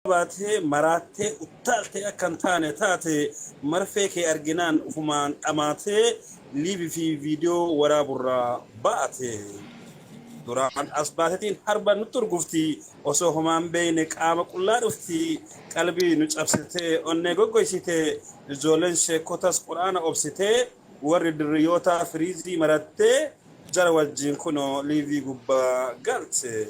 baatee maraattee uttaaltee akka hin taane taate marfee kee arginaan ufumaan dhamaatee liivi fi viidiyoo waraaburraa baate. Duraan as baatetiin harba nutti urgufti osoo homaan beeyne qaama qullaa dhufti qalbii nu cabsitee onnee goggoysite ijoolleen sheekotas quraana obsitee warri dirriyootaa firiizii marattee Jara wajjin kunoo liivii gubbaa galte.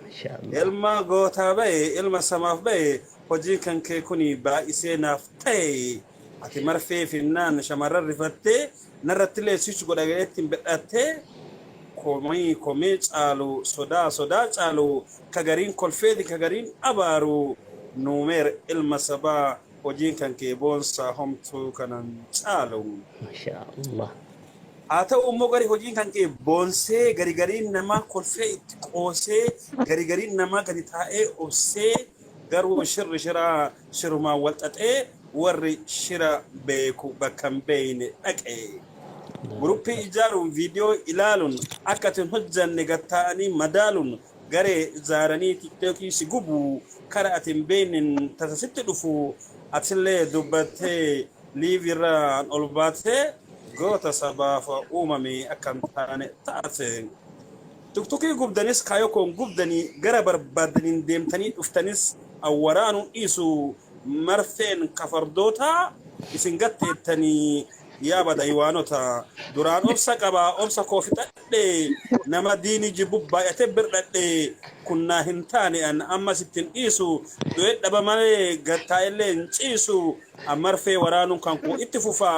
Mashallah. Ilma gootaa baye ilma samaaf baye hojiin kan kee kuni baay'isee naaf tahe ati marfee finnaan shamarran rifattee narrattillee switch godha jedhetti hin bidhattee komii komii caalu sodaa sodaa caalu ka gariin kolfeeti ka gariin abaaru nuumeer ilma sabaa Hojiin kan kee boonsaa homtuu kanan caalu. Masha Allah. Haa ta'uu immoo gari hojiin kan kee boonsee gari gariin namaa kolfee itti qoosee gari gariin namaa gadi taa'ee obsee garuu shirri shiraa shirumaan wal xaxee warri shira beeku bakka hin beeyne dhaqe. Guruppii ijaaruun viidiyoo ilaaluun akka itti hin hojjanne gattaa'anii madaaluun Garee zaaranii tiktoki si gubu kara ati hin beeynen tasa sitti dhufu atille dubbatte live irraan ol baate goota sabaaf uumame akka hin taane taate. Tuktukii gubdanis kaayoo koon gubdani gara barbaaddaniin deemtanii dhuftanis an waraanuu dhiisu marfeen ka fardootaa isin gatteettani yaa bada iwaanota. Duraan obsa qaba obsa koo fixadhe. dhadhe nama diini jibbu baay'ate bir dhadhe kun naa hin taane an amma sittin dhiisu du'e dhaba malee gad taa'ellee hin ciisu an marfee waraanuun kan koo itti fufa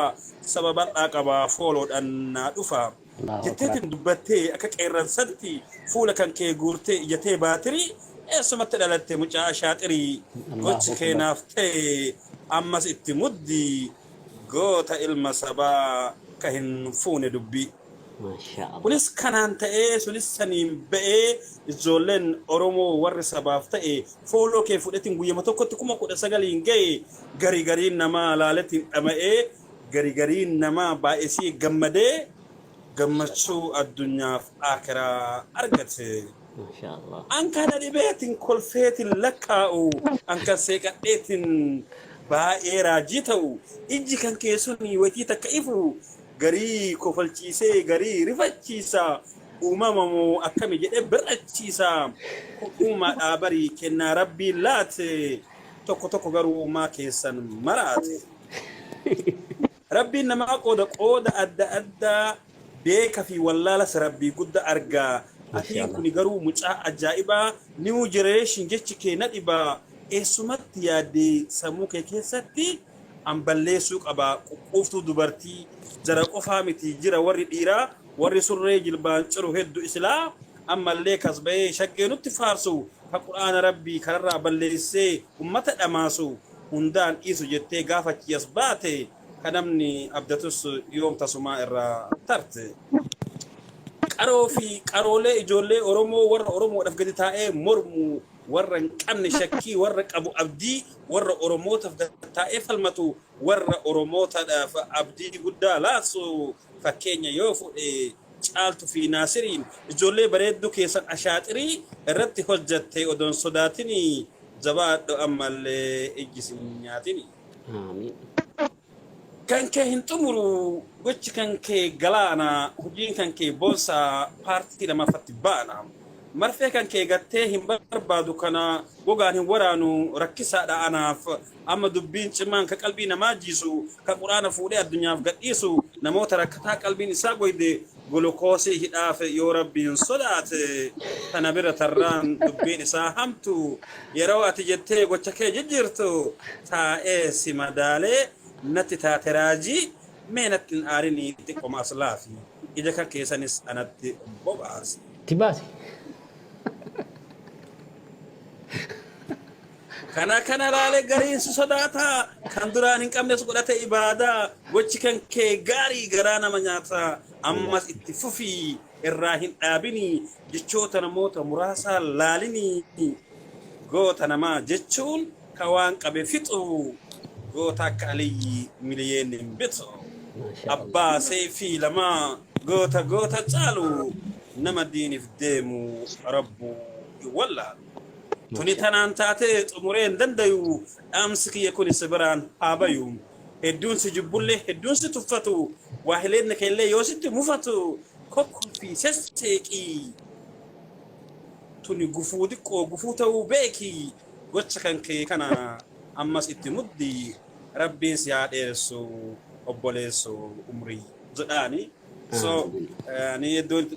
saba bal'aa qaba fooloodhan naa dhufa jetteetiin dubbattee akka qeerransatti fuula kan kee guurtee ijatee baatirii eessumatti dhalatte mucaa ashaaxirii gochi kee naaf ta'e ammas itti muddi goota ilma sabaa ka hin fuune dubbii. Mashallah. Kunis kanaan ta'ee sunis saniin ba'ee ijjoolleen oromoo warri sabaaf ta'e fooloo kee fudhetin guyyama tokkotti kuma kudha sagaliin ga'e gari gariin namaa laaletin dhama'ee gari gariin namaa baay'esii gammadee gammachuu addunyaaf aakiraa argate Mashallah. an kana dhibeetin kolfeetin lakkaa'u an kan seeqadheetin baay'ee raajii ta'u ijji kan keessuni watii takka ifu Garii kofalchiisee garii rifachiisa Uumama moo akkami jedhee bir'achiisa Kun uumaadhaa barii kennaa rabbiin laate Tokko tokko garuu uumaa keessan maraate Rabbiin namaa qooda qooda adda addaa Beeka fi wallaalas rabbii gudda arga Atiin kuni garuu mucaa ajaa'ibaa New generation jechi kee na dhibaa Eessumatti yaadde sammuu kee keessatti an balleessuu qaba quqquuftuu dubartii jara qofaa miti jira warri dhiiraa warri surree jilbaan ciru heddu isilaa ammallee kas bahee shaggee nutti faarsu ka qur'aana rabbii kararraa balleessee ummata dhamaasu hundaan dhiisu jettee gaaf achii as baate ka namni abdatus yoom tasumaa irraa tarte qaroo fi qaroolee ijoollee oromoo warra oromoodhaf gadi taa'ee mormu warra hin qabne shakkii, warra qabu abdii, warra Oromootaf gad-taa'ee falmatu, warra Oromootadhaaf abdii guddaa laatsu fakkeenya yoo fudhe Caaltu fi Naasiriin ijoollee bareedduu keessan ashaaxirii irratti hojjatte odoo hin sodaatini jabaadhu ammallee ijji sin nyaatini. Aamiin. Kan kee hin xumuru gochi kan kee galaana hojiin kan kee boonsa paartii lamaffatti baana marfee kan kee gattee hin barbaadu kana gogaan hin waraanu rakkisaadha anaaf amma dubbiin cimaan ka qalbii namaa jiisu ka quraana fuudhee addunyaaf gadhiisu namoota rakkataa qalbiin isaa goyde Gulukoosii hidhaafe yoo Rabbiin sodaate kana bira tarraan dubbiin isaa hamtu yeroo ati jettee gocha kee jijjiirtu taa'ee si madaalee natti taate raajii mee natti hin aarinii xiqqoma as laafi ija kan keessanis anatti bobaasi. Itti baasi. Kana kana ilaalee gariin si sodaata, kan duraan hin qabnes godhate ibaada, gochi kan kee gaarii garaa nama nyaata, ammas itti fufi irraa hin dhaabini, jechoota namoota muraasaa laalini, goota namaa jechuun ka waan qabe fixu, goota akka Aliyyi miliyeenni hin bitu, abbaa seeyfii lamaa goota goota caalu, nama diinif deemu rabbuu hin wallaalu. Tuni tanaan taatee xumuree hin dandayu dhaamsi kiyya kuni si biraan haa bayu. Hedduun si jibbulle hedduun si tuffatu waahileen keellee yoo sitti mufatu kokkolfii sesseeqii. Tuni gufuu xiqqoo gufuu ta'uu beeki gocha kan kee kana ammas itti muddi rabbiin si haa dheeressu obboleesso umrii jedhaani. So ani hedduun itti